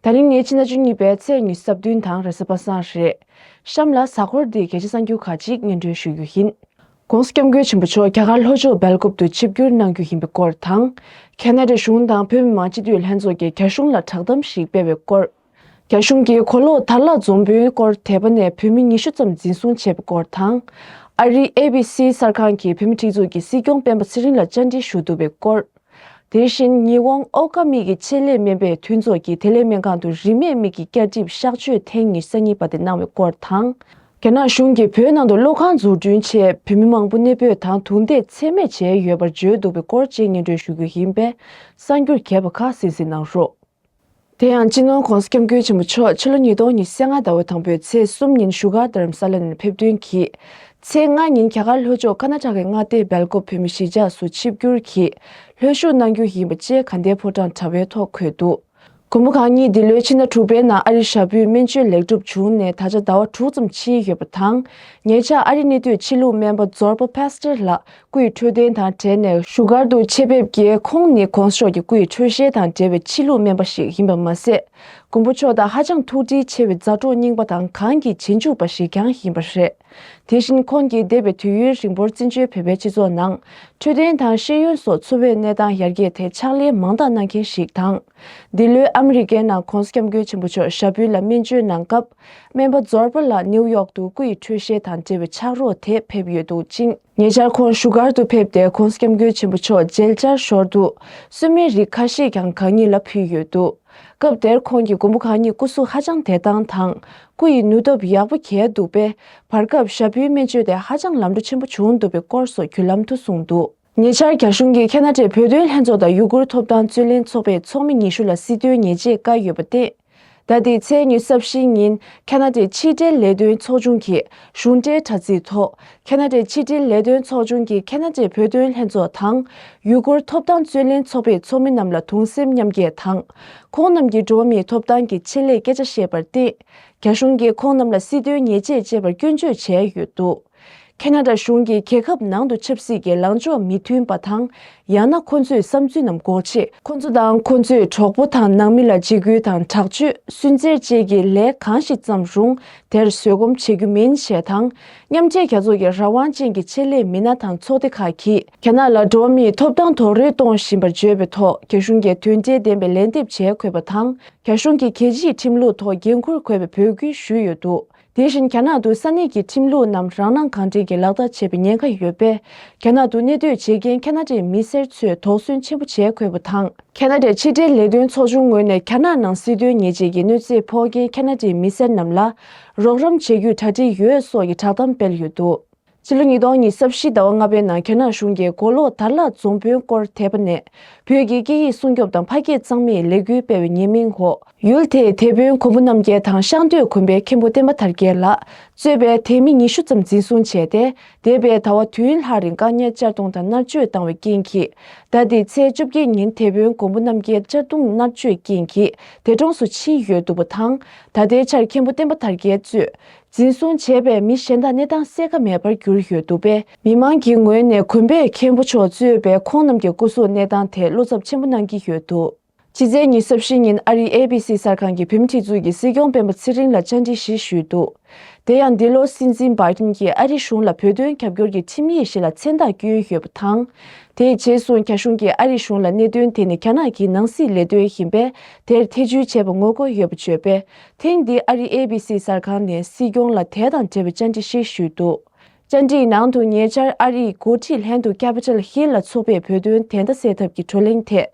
ད་རིང་ངའི་ཕྱི་ཟླ་བཅུ་གཉིས་པའི་ཚེས་ཉི་ཟབ་བདུན་དང་རེས་གཟའ་པ་སངས་རེད། གཤམ་ལ་གཟའ་འཁོར་འདིའི་གལ་ཆེ་ས་འགྱུར་ཁག་ཅིག་སྙན་སྒྲོན་ཞུ་རྒྱུ་ཡིན། ྋགོང་ས ྋསྐྱབས་མགོན་ཆེན་པོ་མཆོག་རྒྱ་གར་ལྷོ་ཕྱོགས་སྦེལ་ཀོབ་ཏུ་ཆིབས་བསྒྱུར་གནང་རྒྱུ་ཡིན་པའི་སྐོར་དང། ཁེ་ནཱ་ཏྲཱའི་གཞུང་དང་བོད་མི་མང་སྤྱི་འཐུས་ལྷན་ཚོགས་ཀྱིས་རྒྱ་གཞུང་ལ་བསྒྲགས་གཏམ་ཞིག་སྤེལ་བའི་སྐོར། རྒྱ་གཞུང་གིས་གོ་ལོག་དར་ལག་འཛོམས་དཔོན་སྐོར་དེད་པ་ནས་བོད་མི་ཉི་ཤུ་ཙམ་འཛིན་བཟུང་བྱས་པའི་སྐོར་དང། ཨ་རིའི ABC གསར་ཁང་གིས་བོད་མི་སྒྲིག་འཛུགས་ཀྱི་སྲིད་སྐྱོང་སྤེན་པ་ཚེ་རིང་ལ་བཅར་འདྲི་ཞུ་བསྡུ་བའི་སྐོར། དེ་བཞིན་ཉི་འོང་ཨོ་ཀ་མིག་གི་ཆེད་ལས་སྨན་པའི་མཐུན་ཚོགས་ཀྱིས་དེ་ལས་སྨན་ཁང་དུ་རིན་མེད་མིག་གི་སྐྱ་གྲིབ་གཤག་བཅོས་ཐེངས་ཉེར་ས་གཉིས་པ་དེ་གནང་བའི་སྐོར་དང། རྒྱ་ནག་གཞུང་གིས་བོད་ནང་དུ་གློག་ཁང་འཛུགས་སྐྲུན་ཆེད་བོད་མི་མང་པོ་གནས་སྤོས་དང་དུག་མདས་འཚེ་མེད་བྱས་ཡོད་པར་བརྗོད་འདུག་པའི་སྐོར་བཅས་སྙན་སྒྲོན་ཞུ་རྒྱུ་ཡིན་པས་གསར་འགྱུར་གས་པ་ཁག་སིན་སིན་གནང་རོགས། དེ་ཡང་སྤྱི་ནོར ྋགོང་ས ྋསྐྱབས་མགོན་ཆེན་པོ་མཆོག་ཕྱི་ལོ་ཉིས་སྟོང་ཉི་ཤུ་ལྔ་ཟླ་བ་དང་པོའི་ཚེས་གསུམ་ཉིན་བཞུགས་སྒར་དྷརྨ་ས་ལ་ནས་ཕེབས་ཐོན་གྱིས། ཚེས་ལྔ་ཉིན་རྒྱ་གར་ལྷོ་ཕྱོགས་ཀར་ནཱ་ཏྲ་ཀའི་མངའ་སྡེ་སྦེལ་ཀོབ་བོད་མི་གཞིས་ཆགས་སུ་ཆིབས་བསྒྱུར་གྱིས་ལྷོད་བཞུགས་གནང་རྒྱུ་ཡིན་པ་བཅས་ག་ཟླའི་ཕོ་བྲང་དྲ་བའི་ཐོག་འཁོད་འདུག་དགོང་མོ་གང་ཉིན་འདི་ལོའི་ཕྱི་ཟླ་དྲུག་པའི་ནང་ཨ་རིར་ཞྭ་ཕུའི་སྨན་བཅོས་ལེགས་གྲུབ་བྱུང་ནས་ད་ཆ་ཟླ་བ་དྲུག་ཙམ་ཕྱིན་ཡོད་པ་དང། ཉེ་ཆར་ཨ་རིའི་གནས་སྡོད་ཕྱི་ལུགས་སྨན་པ་ཛོར་པ Pastor ལགས་སྐུའི་འཕྲོད་བསྟེན་དང་བྲལ་ནས་བཞུགས་སྒར་དུ་ཆེད་ཕེབས་ཀྱིས་ཁོང་ནི ྋགོང་ས་མཆོག་གི་སྐུའི་འཕྲོད་བཞེས་དང་འབྲེལ་བའི་ཕྱི་ལུགས་སྨན་པ་ཞིག་ཡིན་པ་མ་ཟད། མགོན་པོ་མཆོག་དང་ཧ་ཅང་ཐུགས་འདྲིས་ཆེ་བའི་མཛའ་གྲོགས་རྙིང་པ་དང་གང་གི་རྗེས་འཇུག་པ་ཞིག་ཀྱང་ཡིན་པ་རེད། དེ་བཞིན་ཁོང་གིས་འདས་པའི་དུས་ཡུན་རིང་པོར་བཙན་བྱོལ་བོད་པའི་སྤྱི་ཚོགས་ནང་འཕྲོད་བསྟེན་དང་ཤེས་ཡོན་སོགས་འཚོ་བའི་གནས་སྟངས་ཡར་རྒྱས་ཐད་ཕྱག་ལས་མང་དག་གནང་མཁན་ཞིག་དང། འདི་ལོའི་ཨ་མི་རི་ཀའི་ནང ྋགོང་ས ྋསྐྱབས་མགོན་ཆེན་པོ་མཆོག་ཞྭ་ཕུད་ལ་སྨན་བཅོས་གནང་སྐབས་སྨན་པ་ཛོར་པ་ལགས་ནེའུ་ཡོག་ཏུ་སྐུའི་འཕྲོད་བཞེས་དང་འབྲེལ་བའི་ཕྱག་རོགས་དེ་ཕེབས་ཡོད་འདུག་ཅིང། ཉེ་ཆར་ཁོང་བཞུགས་སྒར་དུ་ཕེབས་ཏེ་ཁོང་སྐྱབས་མགོན་ཆེན་པོ་མཆོག་མཇལ་བཅར་ཞོར་དུ་གསོལ་སྨན་རིགས་ཁ་ཤས་ཀྱང་གང་ཉིད་ལ་ཕུལ་ཡོད་འདུག་སྐབས་དེར་ཁོང་གི་མགོན་པོ་གང་ཉིད་སྐུ་གཟུགས་ཧ་ཅང་དད་སྟངས་དང་སྐུ་ཡི་ནུས་སྟོབས་ཡག་པོ་གྱེས་འདུག་པས་བར་སྐབས་ཞབས་བུའི་སྨན་བཅོས་དེ་ཧ་ཅང་ལམ་འགྲོ་ཆེན་པོ་བྱུང་འདུག་པའི་སྐོར་སོགས་བརྒྱུད་ལམ་དུ་གསུངས་འདུག། ཉེ་ཆར་རྒྱ་གཞུང་གིས་ཁེ་ན་ཏྲེ་བོད་དོན་ལྷན་ཚོགས་དང་ཡུ་གུར་ཐོབ་ཐང་རྩོད་ལེན་ཚོགས་པའི་ཚོགས་མི་ཉི་ཤུ་ལ་སྲིད་དོན་ཉེས་ཆད་བཀལ་ཡོད་པ་སྟེ། ཟླ་འདིའི་ཚེས་ཉི་ཟབ་བཞི་ཉིན་ཁ་ན་ཏའི་ཕྱི་དྲིལ་ལས་དོན་ཚོགས་ཆུང་གིས་གཞུང་འབྲེལ་དྲ་ཚིགས་ཐོག་ཁ་ན་ཏའི་ཕྱི་དྲིལ་ལས་དོན་ཚོགས་ཆུང་གི་ཁ་ན་ཏའི་བོད་དོན་ལྷན་ཚོགས་དང། ཡུ་གུར་ཐོབ་ཐང་རྩོད་ལེན་ཚོགས་པའི་ཚོགས་མི་རྣམས་ལ་དུང་སེམས་མཉམ་སྐྱེད་དང། ཁོང་རྣམས་ཀྱིས་འགྲོ་བ་མིའི་ཐོབ་ཐང་གི་ཆེད་ལས་སྐད་ཆ་བཤད་པར་བརྟེན། རྒྱ་གཞུང་གིས་ཁོང་རྣམས་ལ་སྲིད་དོན་ཉེས་ཆད་བཅད་པར་སྐྱོན་བརྗོད་བྱས་ཡོད་འདུག། ཁེ་ན་ར་གཞུང་གིས་རྒྱལ་ཁབ་ནང་དུ་ཆབ་སྲིད་ཀྱི་ལངས་ཕྱོགས་མི་མཐུན་པ་དང། ཡང་ན་ཁོ་ཚོས་བསམ་ཚུལ་རྣམས་འགོག་ཆེད། ཁོ་ཚོ་དང་ཁོ་ཚོའི་གྲོགས་པོ་དང་ནང་མི་ལ་འཇིགས་སྐུལ་དང་དྲག་སྤྱོད་སུན་གཙེར་བཅས་ཀྱི་ལས་གང་ཞིག་བརྩམས་རུང་དེར་བཟོད་སྒོམ་བྱེད་རྒྱུ་མིན་ཞེས་དང། མཉམ་འབྲེལ་རྒྱལ་ཚོགས་ཀྱི་རང་དབང་ཅན་གྱི་ཆེད་ལས་མི་སྣ་དང་ཚོགས་སྡེ་ཁག་གིས། རྒྱ་ནག་ལ་འགྲོ་བ་མིའི་ཐོབ་ཐང་དོགས་རེ་གཏོང་བཞིན་པར་བརྗོད་པའི་ཐོག་རྒྱ་གཞུང་གིས་དོན་འབྲས་ལྡན་པའི་ལན་འདེབས་བྱས་འཁོད་པ་དང་རྒྱ་གཞུང་གི་གལ་ཆེའི་ཁྲིམས་ལུགས་ཐོག་འགན་འཁུར་དགོས་པའི་འབོད་སྐུལ་ཞུས་ཡོད་འདུག་དེ་བཞིན་རྒྱ་ནག་ཏུ་ས་གནས་ཀྱི་ཁྲིམས་ལུགས་རྣམས་རང་སྣང་གང་དྲན་གྱིས་ལག་བསྟར་བྱེད་པའི་ཉེན་ཁ་ཡོད་པས། རྒྱ་ནག་ཏུ་གནས་སྡོད་བྱེད་མཁན་ཁ་ན་ཏའི་མི་སེར་ཚོས་དོགས་ཟོན་ཆེན་པོ་བྱས་དགོས་པ་དང། ཁ་ན་ཏའི་ཕྱི་འབྲེལ་ལས་དོན་ཚོགས་ཆུང་ངོས་ནས་རྒྱ་ནག་ནང་སྲིད་དོན་ཉེས་ཆད་ཀྱི་གནོད་འཚེ་ཕོག་མཁན་ཁ་ན་ཏའི་མི་སེར་རྣམས་ལ་རོགས་རམ་བྱེད་རྒྱུའི་གྲ་སྒྲིག་ཡོད་སོགས་ཀྱི་བསྒྲགས་གཏམ་སྤེལ་ཡོད་འདུག་ཕྱི་ལོ་ཉིས་སྟོང་ཉིས་བརྒྱ་བཞི་ཟླ་བ་ལྔ་པའི་ནང་རྒྱ་ནག་གཞུང་གིས་མགོ་ལོག་དར་ལག་རྫོང་དཔོན་སྐོར་དེད་པ་ནས་བོད་ཀྱི་སྐད་ཡིག་སྲུང་སྐྱོབ་དང་ཕ་སྐད་གཙང་མའི་ལས་འགུལ་སྤེལ་བའི་ཉེས་མིང་འོག་ཡུལ་དེའི་དེད་དཔོན་གོང་བུ་རྣམ་རྒྱལ་དང་ཤང་སྟོད་གོམ་པའི་མཁན་པོ་བསྟན་པ་དར་རྒྱས་ལགས་གཙོས་པའི་དེད་མི་ཉི་ཤུ་ཙམ་འཛིན་བཟུང་བྱས་ཏེ་དེད་པའི་ཟླ་བ་དུས་ཡུན་ལྷག་རིང་བཀག་ཉར་གཅར་རྡུང་དང་མནར་གཅོད་བཏང་བའི་རྐྱེན་གྱིས་ཟླ་འདིའི་ཚེས་བཅོ་བརྒྱད་ཉིན་དེད་དཔོན་གོང་བུ་རྣམ་རྒྱལ་གཅར་རྡུང་མནར་གཅོད་རྐྱེན་གྱིས་དེད་གྲོངས་སུ་ཕྱིན་ཡོད་འདུག་པ་དང་ད་ལྟའི་ཆར་མཁན་པོ་བསྟན་པ་དར་རྒྱས་གཙོས་འཛིན་བཟུང་བྱས་པའི་མི་གཞན་དག་གནས་སྟངས་གསལ་ཁ་མེད་པར་གྱུར་ཡོད་འདུག་པས། མི་མང་གི་ངོས་ནས་གོན་པས་མཁན་པོ་མཆོག་གཙོས་པའི་ཁོང་རྣམས་ཀྱི་སྐུ་གཟུགས་གནས་སྟངས་ཐད་བློ་འཚབ་ཆེན་པོ་གནང་གི་ཡོད་འདུག་ཕྱི་ཚེས་ཉིན་གསར་བཞི་ཉིན་ཨ་རིའི ABC གསར་ཁང་གི་བེམ་ཁྲིད་ཚུལ་གྱིས་སྲིད་སྐྱོང་སྤེན་པ་ཚེ་རིང་ལ་བཅར་འདྲི་ཞིག་ཞུས་འདུག་དེ་ཡང་འདི་ལོ་སྲིད་འཛིན་བཱི་ཏིན་གྱིས་ཨ་རི་གཞུང་ལ་བོད་དོན་རྒྱབ་སྐྱོར་གྱི་ཁྲིམས་ཡིག་ཞིག་ལ་མཚན་རྟགས་བསྐྱོན་ཡོད་པ་དང། དེ་རྗེས་སུ་རྒྱ་གཞུང་གིས་ཨ་རི་གཞུང་ལ་གནད་དོན་དེ་ནི་རྒྱ་ནག་གི་ནང་སྲིད་ལས་དོན་ཡིན་པས་དེར་ཐེ་བྱུས་བྱས་པ་ངོ་རྒོལ་ཡོད་པ་བརྗོད་པས་ཐེངས་འདིའི་ཨ་རིའི ABC གསར་ཁང་ནས་སྲིད་སྐྱོང་ལ་དེ་དང་འབྲེལ་བའི་བཅར་འདྲི་ཞིག་ཞུས་འདུག་བཅར་འདྲིའི་ནང་དུ་ཉེ་ཆར་ཨ་རིའི་འགོ་ཁྲིད་ལྷན་དུ Capitol Hill ལ་ཚོགས་པའི་བོད་དོན་དན་རྟ་སེལ་ཐབས་ཀྱི་བགྲོ་གླེང་ཐད་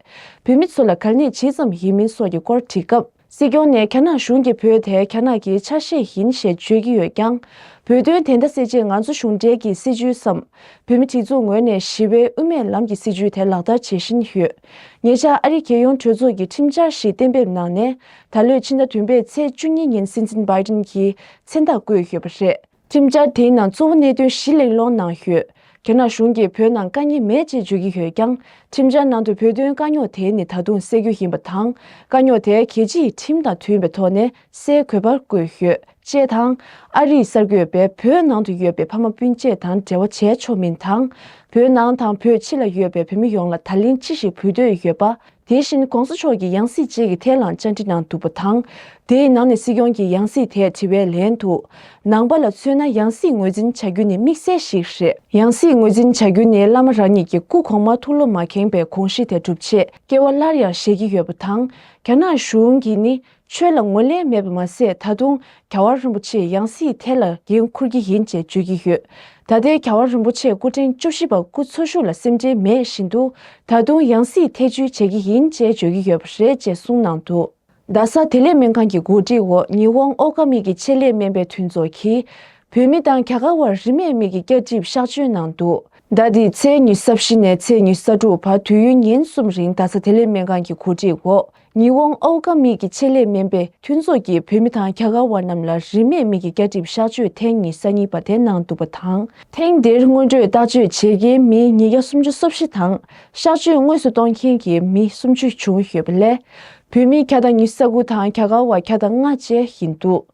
བོད་མི་ཚོ་ལ་གར་གནས་ཇི་ཙམ་ཡིན་མིན་སོགས་ཀྱི་སྐོར་དྲིས་སྐབས། སྲིད་སྐྱོང་ནས་རྒྱ་ནག་གཞུང་གིས་བོད་དེ་རྒྱ་ནག་གི་ཆ་ཤས་ཡིན་ཞེས་བརྗོད་ཀྱི་ཡོད་ཀྱང། བོད་དོན་དན་རྟ་སེལ་ཆེད་ང་ཚོ་གཞུང་འབྲེལ་གྱི་སྲིད་ཇུས་སམ། བོད་མི་གྲི་བཙུགས་ངོས་ནས་ཞི་བའི་དབུ་མའི་ལམ་གྱི་སྲིད་ཇུས་དེ་ལག་བསྟར་བྱེད་བཞིན་ཡོད། ཉེ་ཆར་ཨ་རིའི་རྒྱལ་ཡོངས་གྲོས་ཚོགས་ཀྱིས་ཁྲིམས་འཆར་ཞིག་གཏན་འབེབས་གནང་ནས། ད་ལོའི་ཕྱི་ཟླ་བདུན་པའི་ཚེས་བཅུ་གཉིས་ཉིན་སྲིད་འཛིན་སྦཱེ་ཏིན་གྱིས་མཚན་རྟགས་བཀོད་ཡོད་པ་རེད། ཁྲིམས་འཆར་དེའི་ནང་གཙོ་བོ་གནད་དོན་བཞི་གླེང་སློང་གནང་ཡོད། རྒྱ་ནག་གཞུང་གིས་བོད་ནང་དཀའ་ཉེ་མེད་ཅེས་བརྗོད་ཀྱི་ཡོད་ཀྱང་ཁྲིམས་འཆར་ནང་དུ་བོད་དོན་དཀའ་རྙོག་དེ་ནི་ད་དུང་སེལ་རྒྱུ་ཡིན་པ་དང་དཀའ་རྙོག་དེ་གལ་ཆེ་ཡིས་ཁྲིམས་དང་མཐུན་པའི་ཐོག་ནས་སེལ་དགོས་པར་བཀོད་ཡོད། ཅེས་དང། ཨ་རིའི་གསར་འགོད་པས་བོད་ནང་དུ་ཡོད་པའི་ཕ་མ་སྤུན་མཆེད་དང་འབྲེལ་བ་བྱས་ཆོག་མིན་དང། བོད་ནང་དང་བོད་ཕྱི་ལ་ཡོད་པའི་བོད་མི་ཡོངས་ལ་ད་ལན་ཅི་ཞིག་ཕུལ་འདོད་ཡོད་པ། དེ་བཞིན ྋགོང་ས་མཆོག་གིས་ཡང་སྲིད་ཅིག་གི་ཐད་ལའང་བཅར་འདྲི་གནང་འདུག་པ་དང། དེའི་ནང་ནས་སྲིད་སྐྱོང་གིས་ཡང་སྲིད་ཐད་དྲི་བའི་ལན་དུ། ནང་པ་ལ་མཚོན་ན་ཡང་སྲིད་ངོས་འཛིན་བྱ་རྒྱུ་ནི་དམིགས་བསལ་ཞིག་རེད། ཡང་སྲིད་ངོས་འཛིན་བྱ་རྒྱུ་ནི་བླ་མ་རང་ཉིད་ཀྱི་སྐུ་གོང་མ་ཐུགས་བློ་མ་ཁེངས་པའི་གོང་གཤིས་དེ་འགྲུབ་ཆེད་སྐྱེ་བ་སླར་ཡང་བཞེས་ཀྱི་ཡོད་པ་དང། རྒྱ་ནག་གཞུང་གིས་ནི་ཆོས་ལ་ངོས་ལེན་མེད་པ་མ་ཟད་ད་དུང་ག་བ་རིན་པོ་ཆེས་ཡང་སྲིད་དེ་ལ་འགན་འཁུར་གྱི་ཡིན་ཅེས་བརྗོད་ཀྱི་ཡོད། ད་ལྟའི་ག་བ་རིན་པོ་ཆེས་སྐུ་ཕྲེང་བཅུ་བཞི་པ་སྐུ་འཚོ་བཞུགས་ལ་སེམས་ཁྲལ་མེད་བཞིན་དུ་ད་དུང་ཡང་སྲིད་ཐེ་བྱུས་བྱེད་ཀྱི་ཡིན་ཅེས་བརྗོད་ཀྱི་ཡོད་པ་རེད་ཅེས་གསུངས་གནང་འདུག་རྡ་ས་དེ་ལེགས་སྨན་ཁང་གི་གོ་སྒྲིག་འོག་ཉི་ཧོང་ཨོ་ཀ་མིག་གི་ཆེད་ལས་སྨན་པའི་མཐུན་ཚོགས་ཀྱིས་བོད་མི་དང་ག་ག་བར་རིན་མེད་མིག་གི་སྐྱ་གྲིབ་གཤག་བཅོས་གནང་འདུག། ཟླ་འདིའི་ཚེས་ཉི་ས་བཞི་ནས་ཚེས་ཉི་ས་དྲུག་བར་དུས་ཡུན་ཉིན་གསུམ་རིང་རྡ་ས་དེ་ལེགས་སྨན་ཁང་གི་གོ་སྒྲིག་འོག་ཉི་འོང་ཨོའུ་ཀ་མིག་གི་ཆེད་ལས་སྨན་པས་མཐུན་ཚོགས་ཀྱིས་བོད་མི་དང་རྒྱ་གར་བ་རྣམས་ལ་རིན་མེད་མིག་གི་སྐྱ་གྲིབ་གཤགས་བཅོས་ཐེངས་གཉིས་ས་གཉིས་པ་དེ་གནང་འདུག་པ་དང། ཐེངས་འདིར་སྔོན་སྤྲོད་བརྟག་བཅོས་བྱེད་མཁན་མི་ཉིས་བརྒྱ་སུམ་ཅུ་སོ་བཞི་དང་གཤགས་བཅོས་དངོས་སུ་གཏོང་མཁན་གྱི་མི་སུམ་ཅུ་བྱུང་ཡོད་པ་ལས། བོད་མི་གྱ་དང་ཉི་ས་དགུ་དང་རྒྱ་གར་བ་གྱ་དང་ལྔ་བཅས་ཡིན་འདུག།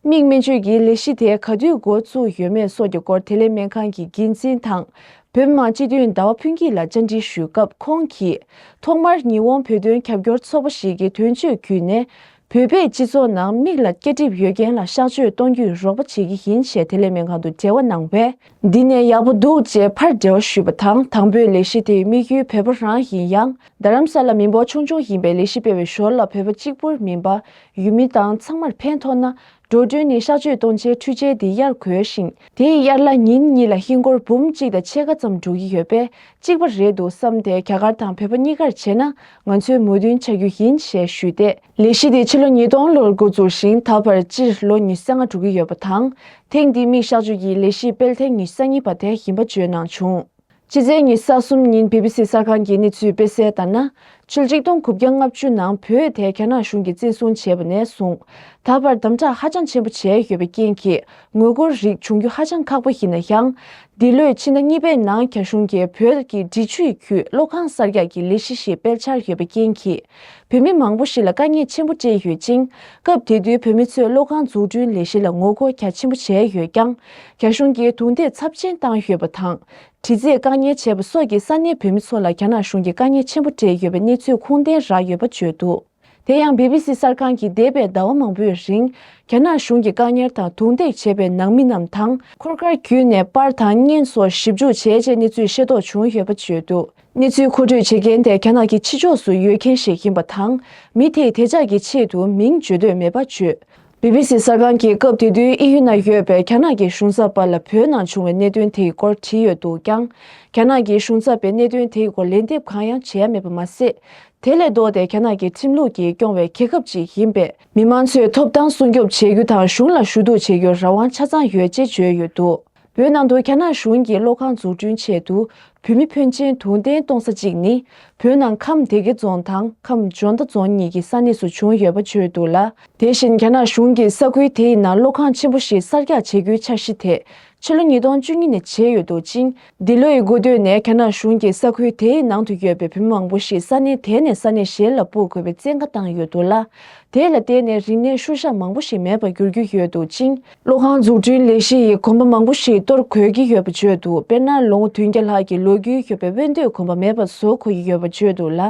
མིག་སྨན་བཅོས་ཀྱི་ལས་གཞི་དེ་ག་དུས་འགོ་བཙུགས་ཡོད་མེད་སོགས་ཀྱི་སྐོར་དེ་ལས་སྨན་ཁང་གི་འགན་འཛིན་དང། བོད་དམངས་སྤྱི་མཐུན་ཟླ་བ་ཕུན་སྐྱིད་ལ་བཅར་འདྲི་ཞུས་སྐབས་ཁོང་གིས། ཐོག་མར་ཉི་འོང་བོད་དོན་རྒྱབ་སྐྱོར་ཚོགས་པ་ཞིག་གི་དོན་གཅོད་བརྒྱུད་ནས། བོད་པའི་སྤྱི་ཚོགས་ནང་མིག་ལ་སྐྱ་གྲིབ་ཡོད་མཁན་ལ་གཤགས་བཅོས་གཏོང་རྒྱུའི་རོགས་པ་བྱེད་ཀྱི་ཡིན་ཞེས་དེ་ལས་སྨན་ཁང་དུ་འབྲེལ་བ་གནང་བས། འདི་ནས་ཡག་པོ་འདུག་ཅེས་ཕར་འབྲེལ་བ་ཞུས་པ་དང་དང་པོའི་ལས་གཞི་དེའི་དམིགས་ཡུལ་བོད་པ་རང་ཡིན་ཡང་རྡ་རམ་ས་ལ་མི་འབོར་ཆུང་ཆུང་ཡིན་པའི་ལས་གཞི་སྤེལ་བའི་ཞོར་ལ་བོད་པ་གཅིག་པུར་མིན་པ་ཡུལ་མི་དང་ཚང་མར་ཕན་ཐོགས་ན། འགྲོ་གྲོན་ནི་གཤགས་བཅོས་གཏོང་བྱའི་འཕྲུལ་ཆས་འདི་གཡར་གོལ་ཞིང། དེ་ཡི་གཡར་གླ་ཉིན་གཉིས་ལ་ཧིན་སྒོར་འབུམ་གཅིག་དང་ཕྱེད་ཀ་ཙམ་འགྲོ་གི་ཡོད་པས་གཅིག་པ་རེད་འདུག་བསམ་སྟེ་རྒྱ་གར་དང་བོད་པ་གཉིས་ཀར་བྱས་ན་ང་ཚོས་མོས་མཐུན་བྱ་རྒྱུ་ཡིན་ཞེས་ཞུས་ཏེ། ལས་གཞི་དེ་ཕྱི་ལོ་ཉིས་སྟོང་ལོར་འགོ་འཛུགས་ཤིང་ད་བར་སྤྱིར་ལོ་ཉི་ས་ལྔ་འགྲོ་གི་ཡོད་པ་དང། ཐེངས་འདིའི་མིག་གཤགས་བཅོས་ཀྱི་ལས་གཞི་སྤེལ་ཐེངས་ཉི་ས་གཉིས་པ་དེ་ཡིན་པ་བརྗོད་གནང་བྱུང། ཕྱི་ཚེས་ཉིས་སྟ་གསུམ་ཉིན་བྷི་བྷི་སི་གསར་ཁང་གིས་གནས་ཚུལ་སྤེལ་གསལ་ལྟར་ན། ཆུ་གཅིག་སྟོང་དགུ་བརྒྱ་ལྔ་བཅུ་ནང་བོད་ཨེ་ཐའི་རྒྱ་ནག་གཞུང་གིས་བཙན་བཟུང་བྱས་པ་ནས་བཟུང། ད་བར་དམ་དྲག་ཧ་ཅང་ཆེན་པོ་བྱས་ཡོད་པའི་རྐྱེན་གྱིས་ངོ་རྒོལ་རིགས་འབྱུང་རྒྱུ་ཧ་ཅང་ཁག་པོ་ཡིན་ན་ཡང། འདི་ལོའི་ཕྱི་ཟླ་གཉིས་པའི་ནང་རྒྱ་གཞུང་གིས་བོད་ཀྱི་འབྲི་ཆུའི་རྒྱུད་གློག་ཁང་གསར་རྒྱག་གི་ལས་གཞི་ཞིག་སྤེལ་འཆར་ཡོད་པའི་རྐྱེན་གྱིས། བོད་མི་མང་པོ་ཞིག་ལ་དཀའ་ངལ་ཆེན་པོ་སྤྲད་ཡོད་ཅིང། སྐབས་དེ་དུས་བོད་མི་ཚོས་གློག་ཁང་འཛུགས་སྐྲུན་ལས་གཞི་ལ་ངོ་རྒོལ་རྒྱ་ཆེན་པོ་བྱས་ཡོད་ཀྱང། རྒྱ་གཞུང་གིས་རྡུང་རྡེག་ཚབས་ཆེན་བཏང་ཡོད་པ་དང། དྲི་རྩད་བཀག་ཉར་བྱས་པ་སོགས་ཀྱིས་ས་གནས་བོད་མི་ཚོ་ལ་རྒྱ་ནག་གཞུང་གིས་དཀའ་ངལ་ཆེན་པོ་སྤྲད་ཡོད་པའི་གནས་ཚུལ་ཁུངས་ལྡན་རག་ཡོད་པ་བརྗོད་འདུག་དེ་ཡང་བྷི་བྷི་སི་གསར་ཁང་གིས་འདས་པའི་ཟླ་བ་མང་པོའི་རིང། རྒྱ་ནག་གཞུང་གིས་བཀག་ཉར་དང་རྡུང་རྡེག་བྱས་པའི་ནང་མི་རྣམས་དང། འཁོར་སྐར་བརྒྱུད་ནས་པར་དང་བརྙན་སོགས་ཞིབ་འཇུག་བྱས་རྗེས་གནས་ཚུལ་ཤེས་རྟོགས་བྱུང་ཡོད་པ་བརྗོད་འདུག་གནས་ཚུལ་མཁོ་སྤྲོད་བྱེད་མཁན་དེ་རྒྱ་ནག་གི་ཕྱི་ཕྱོགས་སུ་ཡོད་མཁན་ཞིག་ཡིན་པ་དང། མི་དེས་དེ་ཅག་གི་ཆེད་དུ་མིང་བརྗོད་འདོད་མེད་པ་བརྗོད། བྷི་བྷི་སི་གསར་ཁང་གིས་སྐབས་དེ་དུས་དབྱིན་ཡུལ་ན་ཡོད་པའི་རྒྱ་ནག་གི་གཞུང་ཚབ་པ་ལ་བོད་ནང་བྱུང་བའི་གནད་དོན་དེའི་སྐོར་དྲིས་ཡོད་འདུག་ཀྱང། རྒྱ་ནག་གི་གཞུང་ཚབ་པས་གནད་དོན་དེའི་སྐོར་ལན་འདེབས་གང་ཡང་བྱས་ཡ་མེད་པ་མ་ཟད། དེ་ལས་ལྡོག་སྟེ་རྒྱ་ནག་གི་ཁྲིམས་ལུགས་ཀྱིས་སྐྱོང་བའི་རྒྱལ་ཁབ་ཅིག་ཡིན་པས། མི་མང་ཚོས་ཐོབ་ཐང་སྲུང་སྐྱོབ་བྱེད་རྒྱུ་དང་གཞུང་ལ་ཞུ་གཏུག་བྱེད་རྒྱུར་རང་དབང་ཆ་ཚང་ཡོད་ཅེས་བརྗོད་ཡོད་འདུག། བོད་ནང་དུ་རྒྱ་ནག་གཞུང་གིས་གློག་ཁང་འཛུགས་སྐྲུན་ཆེད་དུ་བོད་མི་ཕོན་ཆེན་དུང་བསྟན་གཏོང་ས་གཅིག་ནི་བོད་ནང་ཁམས་སྡེ་དགེ་རྫོང་དང་ཁམས་འཇོ་མདའ་རྫོང་གཉིས་ཀྱི་ས་གནས་སུ་བྱུང་ཡོད་པ་བརྗོད་འདུག་ལ། དེ་བཞིན་རྒྱ་ནག་གཞུང་གིས་ས་ཁུལ་དེའི་ནང་གློག་ཁང་ཆེན་པོ་ཞིག་གསར་རྒྱག་བྱེད་རྒྱུའི་འཆར་གཞི་དེ་ཕྱི་ལོ་ཉིས་སྟོང་བཅུ་གཉིས་ནས་བྱས་ཡོད་འདུག་ཅིང་འདི་ལོའི་དགུན་སྟོད་ནས་རྒྱ་ནག་གཞུང་གིས་ས་ཁུལ་དེའི་ནང་དུ་ཡོད་པའི་བོད་མི་མང་པོ་ཞིག་ས་གནས་དེ་ནས་ས་གནས་གཞན་ལ་སྤུར་དགོས་པའི་བཙན་བཀའ་བཏང་ཡོད་འདུག་ལ། དེ་ལ་བརྟེན་ནས་རིག་གནས་ཤུལ་བཞག་མང་པོ་ཞིག་མེད་པར་འགྱུར་རྒྱུ་ཡོད་འདུག་ཅིང། གློག་ཁང་འཛུགས་སྐྲུན་ལས་གཞི་ཡི་གོམ་པ་མང་པོ་ཞིག་གཏོར་གོལ་གྱི་ཡོད་པ་བརྗོད་འདུག་དཔེར་ན་ལོ་ངོ་དུས་བརྒྱ་ལྷག་གི་ལོ་རྒྱུས་ཤོད་པའི་དབེན་སྟོད་གོམ་པ་མེད་པ་བཟོ་འཁོ་ཡི་ཡོད་པ་བརྗོད་འདུག་ལ།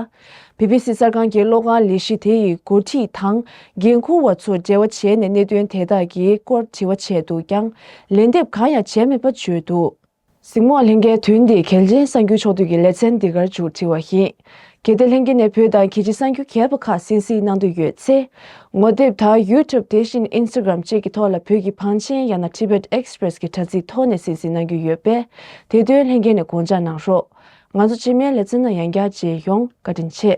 བྷི་བྷི་སི་གསར་ཁང་གིས་གློག་ཁང་ལས་གཞི་དེ་ཡི་འགོ་ཁྲིད་དང་འགན་འཁུར་བ་ཚོར་འབྲེལ་བ་བྱས་ནས་གནད་དོན་དེ་དག་གི་སྐོར་དྲི་བ་བྱས་འདུག་ཀྱང་ལན་འདེབས་གང་ཡང་བྱས་མེད་པ་བརྗོད་འདུག། གཟིགས་མོ་ལྷན་རྒྱས་དུས་འདི་གལ་ཆེན་གསར་འགྱུར་ཕྱོགས་བསྡུས་ཀྱི་ལེ་ཚན་འདི་གར་འཇུག་བྲིས་བ་ཡིན། གལ་ཏེ་ལྷན་རྒྱས་ནས་བོད་དང་གལ་ཆེ་གསར་འགྱུར་གས་པ་ཁག་གསན་གཟིགས་གནང་འདོད་ཡོད་ཚེ། ངོ་དེབ་དང YouTube དེ་བཞིན Instagram བཅས་ཀྱི་ཐོག་ལ་བོད་ཀྱི་བང་ཆེན་ཡང་ན Tibet Express གྱི་དྲ་ཚིགས་ཐོག་ནས་གསན་གཟིགས་གནང་རྒྱུ་ཡོད་པས་དེ་དོན་ལྷན་རྒྱས་ནས་དགོངས་འཇགས་གནང་རོགས། ང་ཚོ་སྤྱི་སྨན་ལེ་ཚན་ནང་ཡང་བསྐྱར་མཇལ་ཡོང་བཀའ་དྲིན་ཆེ།